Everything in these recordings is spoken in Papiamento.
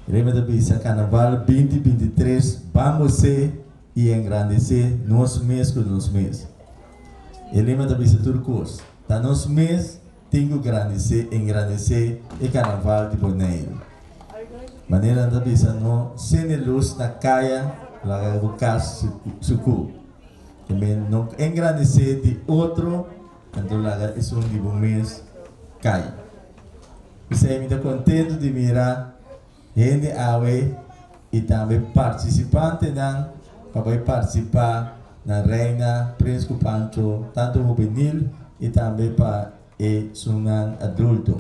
Reme ta bisa, Carnaval binti binti tres ban bosé i engrandesé nos mes ku nos mes. E lema ta bisa tur kos, ta nos mes tin ku grandesé, engrandesé e Carnaval di Boneiru. Manera nan ta bisa, no sende lus na kaya, no laga bo kas suku. Tambe no engrandesé di otro. Anto laga esun di bo mes kai. P'esei mi ta kontentu di mira hende awe i tambe partisipantenan pa bai partisipá na Reina Prins ku Pancho, tantu hubenil i tambe pa esunnan adulto.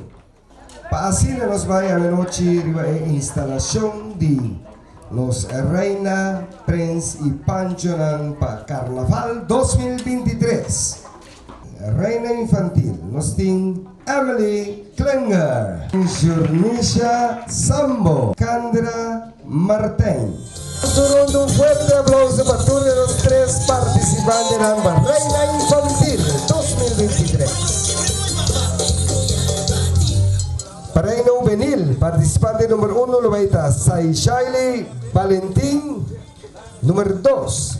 Pa asina nos bai anochi riba e instalashon di Los Reina, Prens i Panchonan pa Karnaval dos mil binti tres. Reina Infantil nos tin Emily Klinger. Jornisha Sambo, Kandra. Martijn. Nos a rond un fuerte aplauso pa tur de nos tres participantenan pa Reina Infantil dos mil binti tres. Pa Reina Hubenil, participante number uno lo bay ta Saishaili Valentin, number dos.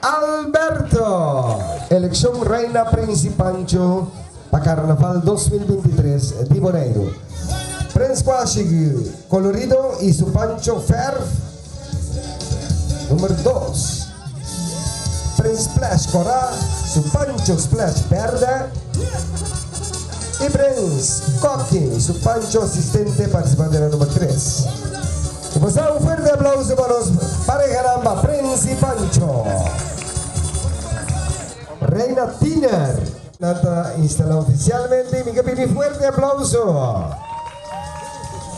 Alberto! Elekshon Reina Prinsi Pancho pa Karnaval dos mil binti tres di Boneiru. Prens Kuashi Kolorido i su Pancho Ferf Número dos. Prens Splash Kora, su Pancho Splash Berde i Prens Koki su Pancho Asistente Partisipante na Número tres. Bo sa un fuerte aplauso pa nos parehanan pa Prince y Pancho. Reina Tiner. Nan ta instala oficialmente y mi ke pidi fuerte aplauso.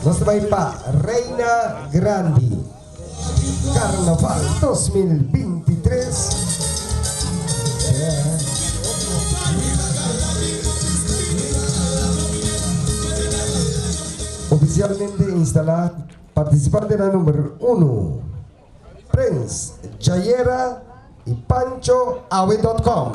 Nos ta bai pa Reina Grandi. Carnaval dos mil binti tres. Ofisialmente instalá partisipantenan number unu, Prens, Jayera i Pancho Awe dot com.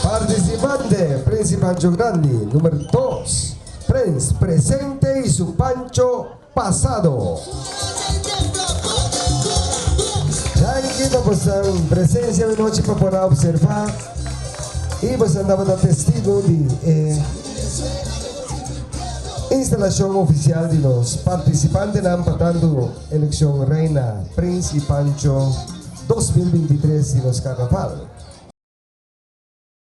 Partisipante Prens i Pancho Grandi, number dos, Prens, Presente i su Pancho. Pasado. Danki pa bosan presencia mi nochi pa por a observa y bosan tabata testigo di e instalacion oficial di nos participantenan pa tanto eleccion Reina, Prince y Pancho dos mil binti tres di nos Carnaval.